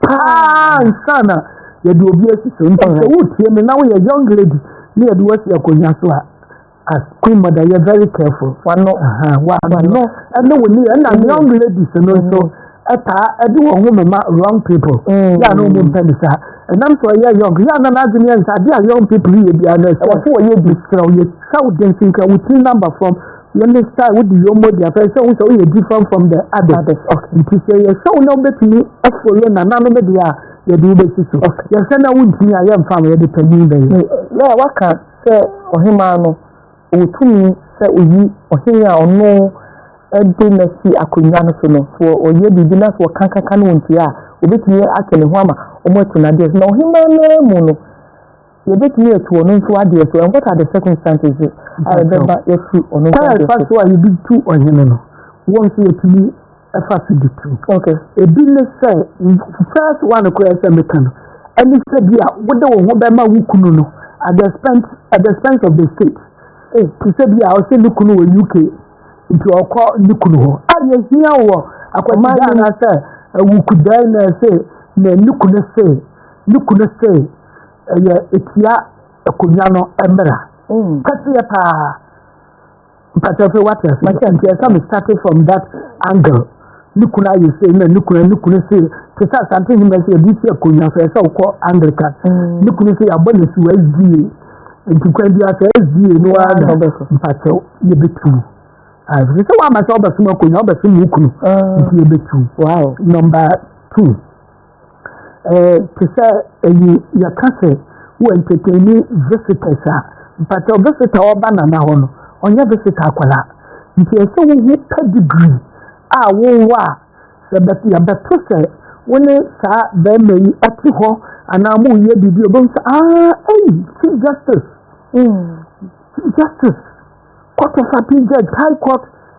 paa nsa na yɛde obi asi so nti sɛ wotie me na woyɛ young lady na yɛde woasi akonnwa so a as queen mother yɛ very careful wano wano ɛne wo niyɛ ɛna mm. young ladies no nso ɛtaa mm. ɛde wɔn ho mema wrong people mm. yɛ a na wɔn mpɛ ne saa ɛnam sɛ ɔyɛ young yɛ a na n'adwene yɛ nsa adeɛ a young people yɛ biara na ɛsɛ wɔn so wɔyɛ bi srɛ wɔyɛ sɛ wɔde nsinka wɔtiri number from. na ne sa a wodi yom modi afɛn sɛ wohu sɛ woyɛ different from the others nti sɛ yɛhwɛ wo na wobɛtumi afolo nananom deɛ a yɛde wobɛsi so yɛhwɛ na wontumi a yɛmfa ma yɛde panyin bɛyɛ na waka sɛ ɔhemaa no ɔtumi sɛ oyi ɔhene a ɔno de no asi akonnwa no so no sɛ ɔyɛ biribi na sɛ ɔkankaka no wɔntua a obɛtumi atwe ne ho ama wɔn atu no adeɛ so na ɔhemaa no mu no Yɛbɛtumi atu ɔno nso adeɛ so, and what are the circumstances a ɛbɛba yɛatu ɔno nso adeɛ so? Kwan fa so a yɛde tu ɔhene no, wɔn nso yɛtumi fa so de tu. Okay. Ebi ne sɛ, first one koraa sɛ meka no, ɛne sɛ bi a wode wo ho bɛma wo kunu no at the expense, at the expense of the state. Eh. Te sɛ bi a ɔsɛ ne kunu wɔ UK, nti ɔkɔ ne kunu hɔ. A yɛhia wɔ akwadaa anaasɛ awukudaa na ɛsɛ na ne kunu se, ne kunu se, ɛyɛ etia akonnwa no mmara mm. kɛseɛ paa mpatɛfo wate ase makyɛ nti ɛsɛ me started from that angle ne kunu ayɛ sei na ne kunu ne kunu se te sɛ asante hema sɛ yɛde si akonnwa so ɛsɛ wokɔ anglican mm. ne kunu sɛ yɛabɔ ne so asdie nti kwan bi asɛ asdie no ara na mpakyɛ yɛbɛtu ɛfiri sɛ woama sɛ wobɛsom akonnwa wobɛsom wo kunu mm. nti yɛbɛtu number two eh, te sɛ ayi yɛka sɛ wo entertaini visitors a mpatɛ visita ɔba nana hɔ no ɔnyɛ visita akwala nti ɛsɛ wohu pedigree a wowɔ a sɛ yɛbɛto sɛ wo ne saa bɛrima yi ɛte hɔ anaa mo yɛ biribi obɛhu sɛ aa ɛyi chief justice mm. chief justice court of appeal judge high court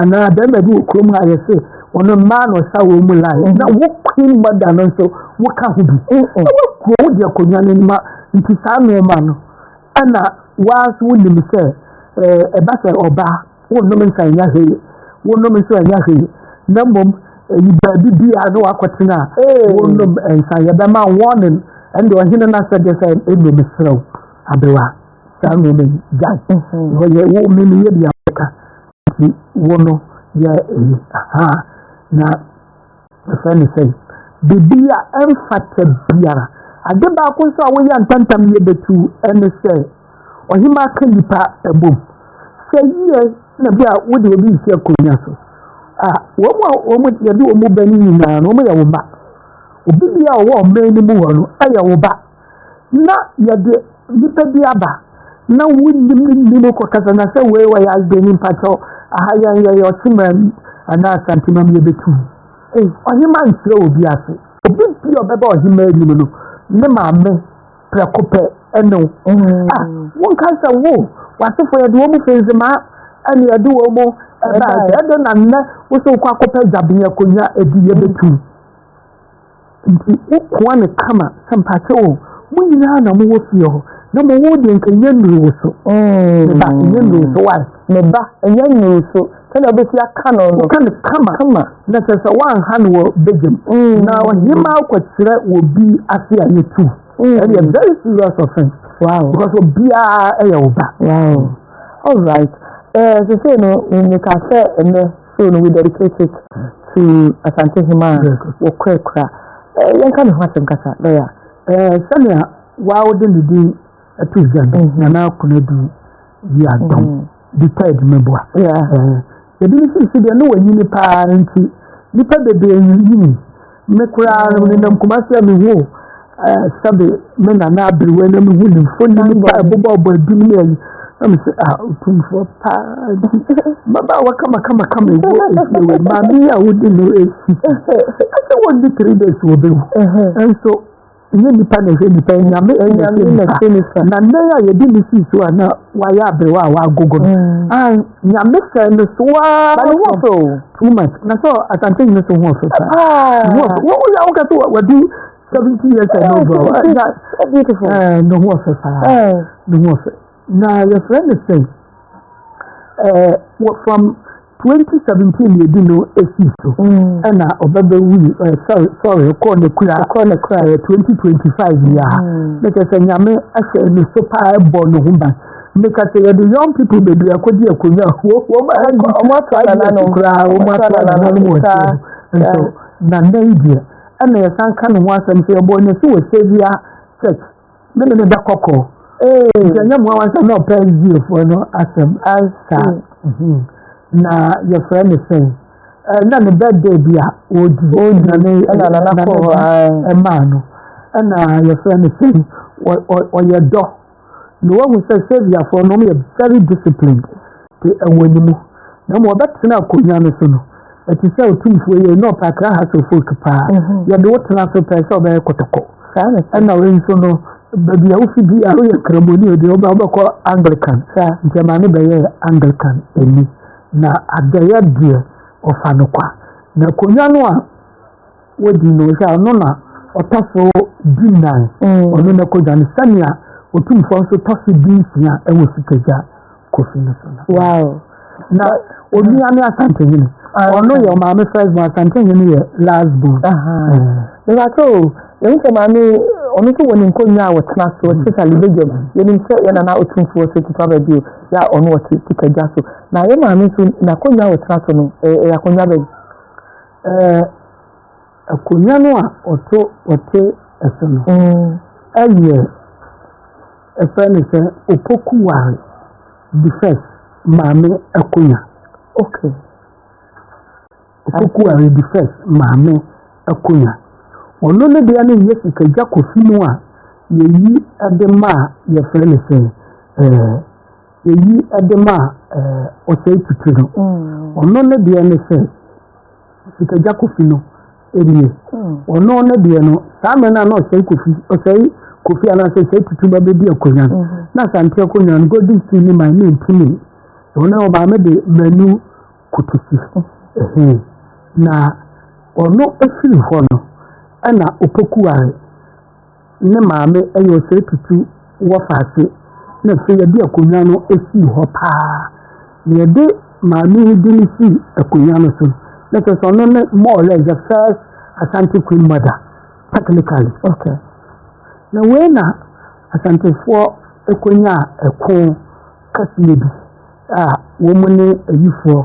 anaa bɛrima bi wɔ kurom a yɛse wɔn mmaa na ɔsa wɔn mu line na wo queen mother no nso woka ho bi na wakuro wo deɛ akonnwa no ma nti saa nneɛma no ɛna waa nso wonim sɛ ɛba sɛ ɔbaa wonom nsa ɛnya hwee wonom nso ɛnya hwee na mmom ɛyi baabi bi a na wakɔtena a wonom nsa yɛbɛma warning ɛnde ɔhene no asɛ deɛ sɛ ɛnu meserɛ wo abewa saa nneɛma yi gyae wɔyɛ wo mene yɛ bia bɛka Nti wo no yɛ eyi ahaa na yɛfrɛ no sɛn? Biribi a ɛmfata biara. Ade baako nso a woyɛ ntɛmntɛm yɛ bɛtu ɛne sɛ ɔhemaa ka nnipa bom. Sɛ yie na bi a wode obi nsi akonnwa so a, wɔn a wɔn yɛde wɔn ba no nyinaa no wɔyɛ wo mma. Obi bi a ɔwɔ ɔman no mu hɔ no yɛ wo ba. na yɛde nipa bi aba na wonim ne nim kɔkasa na sɛ wei wɔyɛ asbani mpakyɛw aha yɛn yɛyɛ ɔkyema mu anaa asantema mu yɛbɛtu ei ɔhema nkyerɛ obi ase obi bi a ɔbɛba ɔhema anim no ne maame prɛko pɛ ɛne wo mm. ah, wonka sɛ wo w'asefo yɛde wɔ mu fenzimaa ɛne yɛde wɔ mu ɛbaa sɛ ɛde na nnɛ wo sɛ wokɔ akɔpɛ gyabenyɛ akonnwa ɛdi yɛbɛtu Nti wokoa no kama sɛ mpakyɛw o, mo nyinaa na mowɔ fie hɔ, na mmom wo deɛ nka ɛnyɛ nnuru wo so. Me ba, ɛnyɛ nnuru wo so, why? Me ba, ɛnyɛ nnuru wo so, sɛdeɛ wobɛsi aka no no. Woka no kama, kama. na kyerɛ sɛ woanha no wɔ badwam. Na ɔhemmaa kɔkyerɛ wɔ bi ase a yɛtu. Ɛdeɛ very serious offense. Wow. Because obiara yɛ wo ba. Wow. All right. Eh, sɛ sɛ no, meka sɛ ɛnɛ. So no we dedicate it to Asante Hima wɔ Kwakura. Eh, yɛnka ne ho asɛm kasa, lɔya. Eh, sɛnea wɔawode ne din ato gya no, mhm. Nana Akonadu yi adɔm mhm. de taa adwumaboa. Eh, ebi ne sisi deɛ ne wɔnyini paa nti, nnipa bebree nyini. Me koraa no menam Kumasi a mehu eh, sɛbe me nana aberewa na mehu ne mfoni ne pa ɛbobɔ ɔbɔ adum ne ayi na mesɛ a ah, ɔtumfoɔ paa nti mmabaawa kamakamakama ɛwɔ ɛfie wɔ maame a wodi no ɛsi ɛsɛ wɔdi three days wɔbɛwu nso Nyɛ nnipa na ɛhwɛ nnipa, anyame na ɛhwɛ nnipa. Na nnɛn a yɛde ne sii so a na wayɛ aberewa a wagogo no. Mm. Ah, nyame sɛ no so a. Ba ne ho ɔfɛ o. Too much. Na sɛ asante nyɛ so ho ɔfɛ paa. Ah. Ho ɔfɛ. Wɔn yɛ awokɛ so wadu seventy years and over. Beautiful. Ne ho ɔfɛ paa. Ne ho ɔfɛ. Na yɛfrɛ no sɛn? Ɛɛ wɔ from 2017 na ebi no esi so mm. ɛna ɔbɛbɛ wuli ɛɛ sɔre sɔre ɛkɔɔ ne kura ɛkɔɔ ne kura ɛɛ 2025 yia ha mm. ne kɛse nyame ɛhyɛ ne so paa ɛbɔ ne ho ban ne kɛse yɛde young people bebree akɔdi akonnwa wɔ wɔn ɛdi wɔn ato ayɛ ɛdi koraa wɔn ato ayɛ ɛdi wɔn ɛdi nso na nna yi deɛ ɛna yɛsan ka ne ho asɛm sɛ ɛbɔ ne so wɔ sɛbia church. ne me ne da kɔkɔ nti ɛnyɛ mmoa wansa na ɔpɛ sdiefoɔ no asɛm ansa mm-hmm. na yɛfrɛ ne sɛn na ne birthday bi a ɔdi ɛmaa no ɛna yɛfrɛ ne sɛn ɔyɛ dɔ na wahu sɛ saviafoɔ no ɔmo yɛ very disciplined te ɛwɔ ne mu, na mmom ɔbɛtena akonnwa no so no, ɛte sɛ otumfoɔ yi, ɛnyɛ ɔpɛ akra hassle folk paa, yɛde wo tena so pɛɛ sɛ ɔbɛyɛ kɔtɔkɔ. Ɛna wei nso no, baabi a wofi bi a woyɛ Nkramoni o deɛ, wobɛ wobɛkɔ Anglican, nti ɛma ne bɛyɛɛ Anglican ni, na adɔeɛ deɛ, ɔfa no kwa. Na akonnwa no a. Wodi no hwɛ a, ɔno na ɔtɔ so dunnan. Ɔno na ɛkɔ dwa no sɛnea Otumfoɔ nso tɔ so dunsia wɔ Sikagya Kofi no so no. Wow. Na onua ne Asantehene. Ɔno yɛ ɔmaame first born, Asantehene yɛ last born. Mebakyɛ o, yɛn sɛ maame ɔno nso wɔ ne nkonnwa a wɔtena so, especially Begem. Yɛnim sɛ yɛn nana Otumfoɔ sɛ tutu aba bio, yɛ a ɔno ɔte Sikagya so. Na yɛn maame nso n'akonnwa a ɔtena so no, ɛyɛ akonnwa bɛn? Akonnwa no a ɔto ɔte so no yɛ yɛfrɛ no sɛ Opokuwaa the first maame akonnwa. Okay. Opokuwaa the first maame akonnwa. Ɔno ne deɛ no yɛ sikagya kofi mu a yɛyi de ma a yɛfrɛ no sɛ ɛɛ. Eyi de ma ɔsɛe tuturi no. Ɔno ne deɛ ne sɛ, sikagya kofi no nie. Ɔno ne deɛ no, saa mmerɛ no a na ɔsɛe kofi, ɔsɛe kofi anaasɛ ɔsɛe tuturi ba bɛdi akonnwa no, na asante akonnwa no, golden steel ne man ne mpini. Ɛwɔ no ɔmaame de manu kote si. Ɛhɛn. Na ɔno firi hɔ no, ɛna opoku ware. ne maame yɛ ɔsɛetutu wɔ faase na afei yɛde akonnwa no sii hɔ paa. Na yɛde maame yi din sii akonnwa no so na kyerɛ sɛ ɔno ne more or less the first Asante Queen mother technically. Okay. Na wei na Asantefoɔ kɔnyaa ɛko kɛseɛ bi a wɔn ne ayifoɔ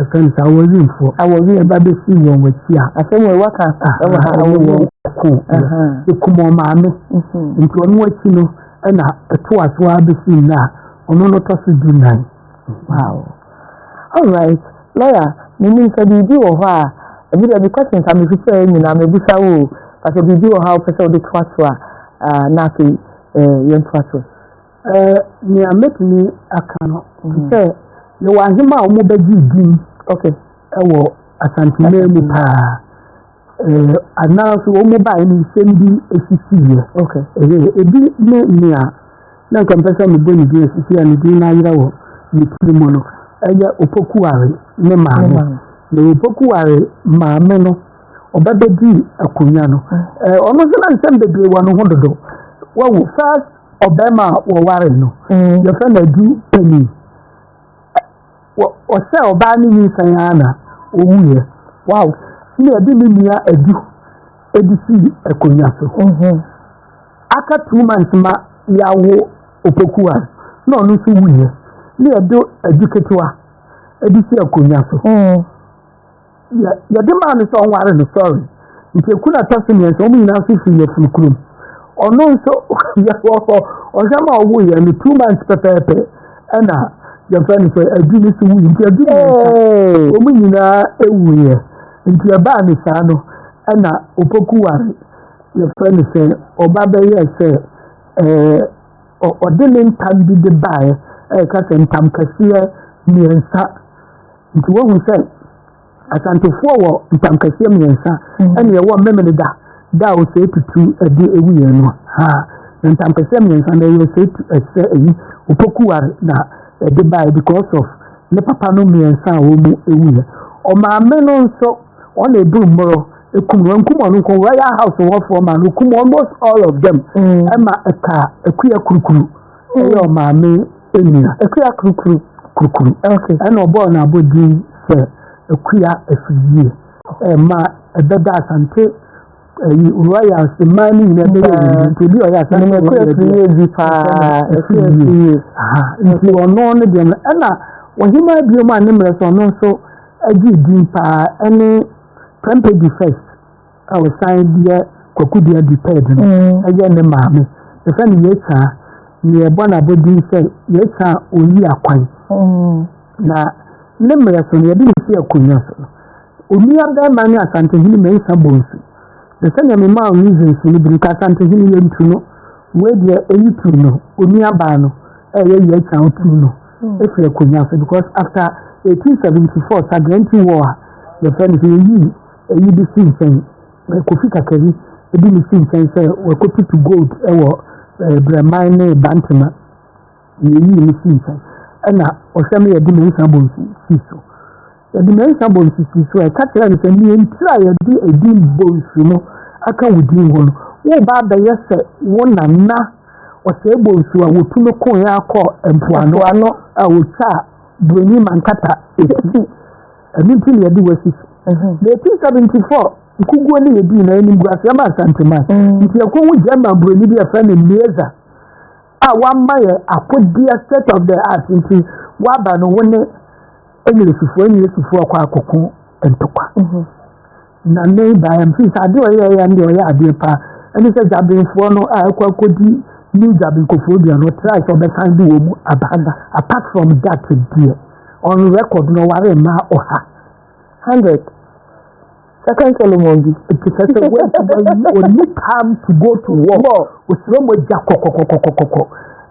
Ɛfɛm saa wɔ wim fɔ. A wɔ wim ɛba bɛ si wɔn wɔ ti a. Asɛm wɔ ɛwɔ ka sa ɛwɔ ha ɛwɔ wɔ. Ko ɛkum wɔn maame. Nti ɔno wɔ ti no ɛna ɛto aso a bɛ si nna a ɔno no tɔ so du nan. Wow. All right. Lawyer, me nim sɛ biribi wɔ hɔ a ɛbi dɛ me questions a me fi sɛ nyinaa me busa wo o. Pasɛ biribi wɔ hɔ a wopɛ sɛ wode to aso a na afei eh, yɛn to aso. Ɛɛ, nea mɛtumi aka no, te sɛ yɛwɔ ahema a wɔbɛgyee din wɔ Asanteman mu paa. Ɛɛ, anaa nso wɔn baeɛ no nsɛm bi sisiiɛ. Ɛyɛ ebi ne nea na nka mpɛ sɛ mebɔ ne din asisi a ne din no ayera wɔ ne tiri mu no, ɛyɛ Opokuware ne maame. Na Opokuware maame no, ɔba bɛdii akonnwa no. Ɛɛ, ɔno nso na nsɛm bebree wɔ ne ho dodo. Wahu first ɔbarima a wɔwaree no, yɛfrɛ no adu panin. Ɔhyɛ ɔbaa no nyinsɛn ara na ɔwuiɛ. Wow! Na ɛde ne nua adu ɛde sii akonnwa so. Mhm. Aka two months ma yɛawo Opokuwa na ɔno nso wuiɛ. Na ɛde adu ketewa ɛde si akonnwa so. Mhm. yɛ yɛde maa no sɛ ɔnware no sɔre nti eku na ɛtɔ so mmiɛnsa wɔn nyinaa nso firi yɛfunu kurom ɔno nso yɛwɔ ɔhwɛ ma ɔwo yɛ no two months pɛpɛɛpɛ ɛna yɛfɛ no sɛ adu no so wu nti adu mmiɛnsa wɔn nyinaa ewu yɛ nti ɛbaa ne saa no ɛna opoku ware yɛfɛ no sɛ ɔba bɛyɛ sɛ ɛɛ ɔde ne ntam bi de baeɛ ɛka sɛ ntam kɛseɛ mmiɛnsa. Nti woahu sɛ Asantefoɔ wɔ ntamkɛseɛ mmiɛnsa mm. ɛne ɛwɔ mmemene da da a ɔsɛe tutu ɛde ɛwu yɛn no ha na ntamkɛseɛ mmiɛnsa na ɛyɛ ɔsɛe tu ɛsɛ ɛyi opokuware na ɛde bae because of ne papa no mmiɛnsa a wɔn mu ɛwu yɛ ɔmaame no nso ɔna ebu mmoro ekum wɔn kum wɔn nko royal house wɔfoɔ ma no kum almost all of them ɛma mm. ɛka akuya kurukuru. Ɛyɛ ɔmaame nua. Akua kurukuru kurukuru. Okay. Ɛna ɔbɔɔ no abɔdin sɛ Akua Afidie. Ɛma ɛbɛda Asante ɛyi royals mmaa no nyinaa bɛyɛ ɛyi nti ebi ɔyɛ Asante royals. Ɛna akua afidie bi paa. Akua afidie. Aha nti ɔno ne deɛ no ɛna ɔhema abiem a ne mmerɛ so ɔno nso agye din paa ɛne Prempeh di first. a ɔsan deɛ Kwaku Duah di third no yɛ ne maame. Yɛfrɛ no Yetsaa. Na yɛbɔ no abɔdin sɛ Yetsaa Oyi Akwan. Na ne mmerɛ so no, yɛde no si akonnwa so. Onua bɛrima ne Asantehene Mensah Bonsu. Na sɛnea memaa wo reasons no bi no, ka Asantehene yɛntu no. Wei deɛ ɛyi tu no, onua baa no ɛyɛ Yetsaa wotu no ɛfiri akonnwa so because after 1874 Sagrenti War a yɛfrɛ no sɛ yɛyii Eyi de si nkyɛn, na Kofi Kakari de no si nkyɛn sɛ wakotutu gold wɔ Brɛman ne Bantema, na eyii no sii nkyɛn. Ɛnna ɔhwɛ me yɛde Mensah Bonsu sii so. Yɛde Mensah Bonsu sii so a, ɛka kyerɛɛ no sɛ, nea enti a yɛde edin Bonsu no aka wo din ho no, woreba abɛyɛ sɛ wo nana Ɔsɛe Bonsu a wɔtu no koe ara kɔɔ mpoano a ɔtwaa Buroni Mankata ti. Ɛno nti na yɛde wo asi so. Mm-hmm. Na 1874 nkuguo ne yɛdii na animguaseɛ ma Asanteman. Mm. Nti yɛkɔ hu German buroni bi yɛfrɛ no Mieza a wama yɛ akodeɛ state of the art nti waba no wo ne Englishfoɔ Englishfoɔ kɔ akɔko ntokwa. Mm-hmm. Na nnɛ yi baeɛ no, sɛ adeɛ ɔyɛɛ yɛ deɛ ɔyɛ adeɛ paa. Ɛne sɛ Gyabenfoɔ no a ɛkɔ akɔdi New Gyaben Koforidua no, ɔtrae sɛ ɔbɛsan de wɔn mu aba ha. Apart from that deɛ, on record no ɔware mmaa ɔha. Hundred. Second Solomon bi. Nti sɛ sɛ wɔntumi ɔni time to go to war. Ɔsrɛ mu agya kɔkɔkɔkɔkɔkɔ.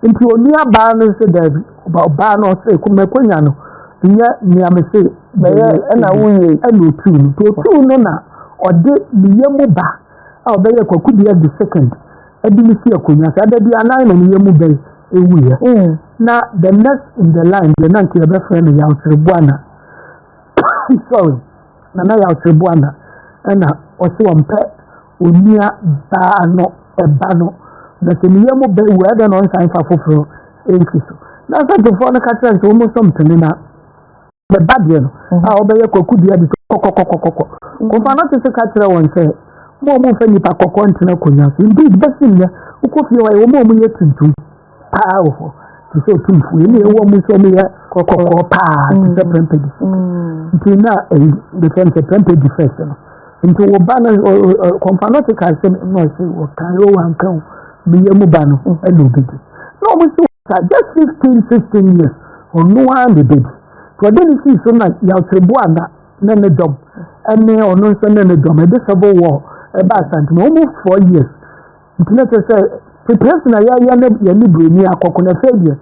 Nti ɔnua baa no nso daabi. Ɔba ɔbaa no ɔse ko makonya no nyɛ nea mese bɛyɛ ɛna wowie ɛna otuu no nti otuu no na ɔde ne yɛ mu ba a ɔbɛyɛ kwaku bia di second ɛde ne si akonya saa da bi anan na ne yɛ mu bɛyɛ ewuiɛ mm. na the next in the line deɛ na nka yɛbɛfrɛ no yawkyereboana sorry nana yawkyereboana ɛna ɔse ɔmpɛ Onua baa no ba no, na sɛ ne yam bɛ wu a, ɛdɛn na ɔnsan mfa foforo nsi so? Na asɛntefoɔ no ka kyerɛ no sɛ, wɔn nso mpene na ne ba deɛ no mhm. a ɔbɛyɛ kwakudua de sɛ kɔkɔkɔkɔkɔ. Kɔfa no te so ka kyerɛ wɔn sɛ, mo a wɔmfa nnipa kɔkɔɔ ntena akonnwa so. Indeed, bɛsi nnɛ, wokɔ fie hɔ a, wɔn a wɔyɛ tuntum. paa wɔ hɔ te sɛ otumfoɔ yi na ɛwɔ mu nso ɔmo yɛ kɔkɔɔ paa te sɛ pɛmpɛ di nti na ɛyi de fɛn sɛ pɛmpɛ di fɛs no nti wɔ ba no kɔmpa no te ka sɛ na ɔsi wɔ kan yɛ wɔ anka o mi yɛ mu ba no ɛna obi di na ɔmo si wɔ sa just fifteen sixteen years ɔno ara na ebi di tí ɔde ne si so na yàtò bu ana ne ne dɔm ɛne ɔno nso ne ne dɔm ɛde sɛ bɔ wɔ ɛba asante na ɔmo four years. Nti na kyerɛ sɛ preparation a yɛayɛ no yɛne buroni akɔko na afei deɛ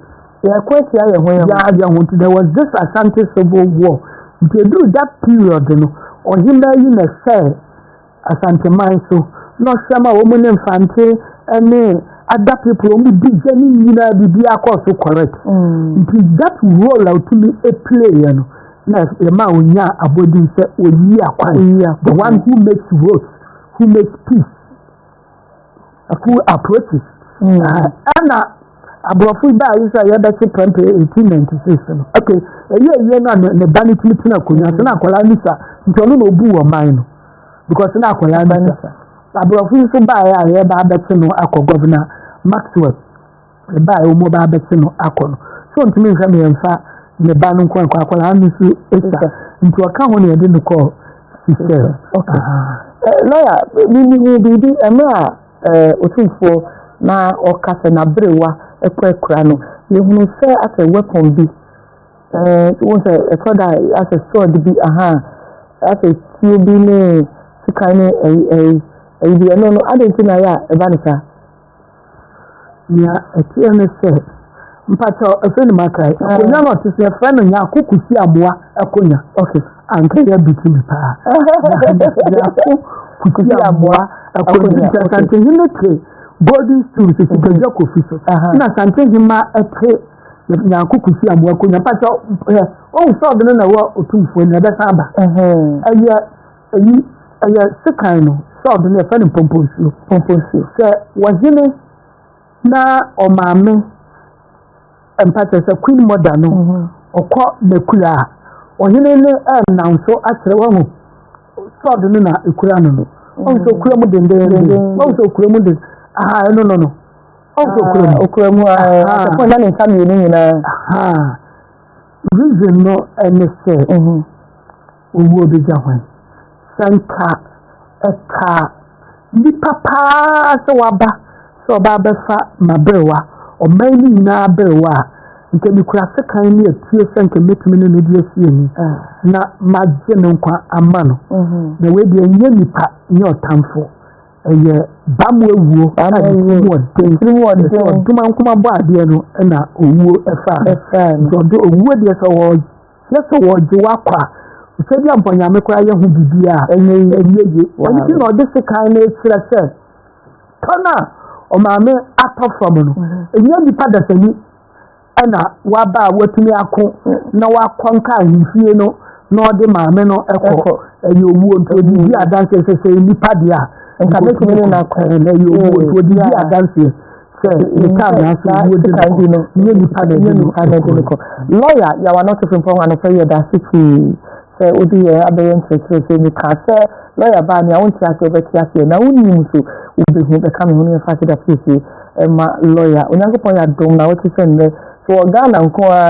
yɛkɔ atia yɛn ho yɛn yɛayɛ ho nti there was this asante civil war nti ɛduru that period no ɔhema yi na ɛsɛ asanteman so na ɔhyɛ ma wɔn ne mfante ne ada people wɔn di gya ne nyinaa biribi akɔ so correct mm. nti that role a ɔtumi play yɛ no na ɛma ɔnya abɔdin sɛ ɔyi akwan the one who makes roads who makes peace school approaches mm. ɛna aborɔfo baa yi sɛ yɛbɛkye prɛmpɛ eighteen ninety six no ok ɛyɛ ɛyɛ no a ne ba no tumi tena akonnwa so na akwadaa no sa nti ɔno na obu wɔ man no because na akwadaa no sa aborɔfo nso baa yɛ a yɛba abɛkye no akɔ gɔvena maxwell ne ba a wɔbɛba abɛkye no akɔ no, sɛ ɔntumi nhwɛ no yɛmfa ne ba no nkɔ nkɔ akɔla ano nso ɛsa nti ɔka ho na yɛde no kɔ sisɛ lɔya bibi ho biribi ɛmɛ a ɔtumfoɔ na ɔka sɛ n'aberewa ɛkɔ akura no yɛhunu sɛ asɛ weapon bi wɔn sɛ ɛtɔ da asɛ sword bi aha asɛ tuo bi ne sikan ne ɛyi ɛyi ɛyi bi ɛno no adɛn ti na yɛ a ɛba ne saa Nea ɛteɛ ne sɛ, mpakyɛ ɛfɛ ne maka yi, akonnwa na ɔte sɛ ɛfɛ no nyako kusi amoa akonnwa. Ok, anka yɛ biti me paa. Nyako kusi amoa akonnwa. Sɛ santehi ne te golden stool sɛ sikadwa kofi so, na santehi ma ɛte nyako kusi amoa akonnwa. Mpakyɛ, ɔhu sɛ ɔde no na ɛwɔ otumfoɔ ni, ɛbɛsan aba. Ɛyɛ Eyi, ɛyɛ sekan no sɛ ɔde no yɛfrɛ no mpomponsuo. Mpomponsuo. Sɛ wɔhene na ɔmaame mpa kyerɛ sɛ queen mother no mhm. ɔkɔ n'akura a ɔhene no ɛnam so akyerɛ wahu sɔɔdo no na ekura no no ɔn sɛ okura mu dendenden ɔn sɛ okura mu den aha ɛno no no ɔn sɛ okura mu okura mu ɛfɔ na ne nsa mmienu nyinaa reason no ɛne sɛ Owuo bɛgya hwan? Sɛnka ɛkaa nnipa paa sɛ waba sɛ ɔba abɛfa m'aberewa, ɔman no nyinaa aberewa a, nka mekura sekan ne atuo sɛ nka mɛtumi ne no de asi ani, na magye no nkwa ama no. Na wei deɛ ɛnyɛ nipa, ɛnyɛ ɔtamfo, ɛyɛ bam awuo a ne tirim wɔ den. Ɛsɛ ɔdomankomaboa adeɛ no na owuo ɛfaa no. Nti ɔde owuo deɛ sɛ ɔwɔ na sɛ wɔgye wo akɔ a sɛ bi a mpo nyame koraa yɛ ho biribi a ɛnyɛ ye ɛnyɛ ye ɛno nti na ɔde sekan no kyerɛ sɛ tɔn a ɔmaame atɔ fam no ɛnyɛ nipa dasani ɛna waba a watumi ako na wakɔ nka ahemfie no na ɔde maame no ɛkɔ ɛyɛ owuo nti ɔde di adanseɛ sɛ sɛ nipa deɛ a nka mɛtumi ne no akɔ ɛyɛ owuo nti ɔde di adanseɛ sɛ nka na sɛ wo de ka yi no nyɛ nipa na ɛnyɛ nipa na ɛde no kɔ lɔya yawa na ɔtɔfo mpa ho anɔfɛ yɛ da ase pii sɛ wode yɛ abɛyɛ nkyerɛkyerɛ sɛ meka sɛ lɔya baa nea wonte ase wobɛte aseɛ na wonim so wobɛhu bɛka me ho no yɛfa keda fiesie ɛma lɔya onyankopɔn yɛ adom na wote sɛ nnɛ so wɔ ghana nko a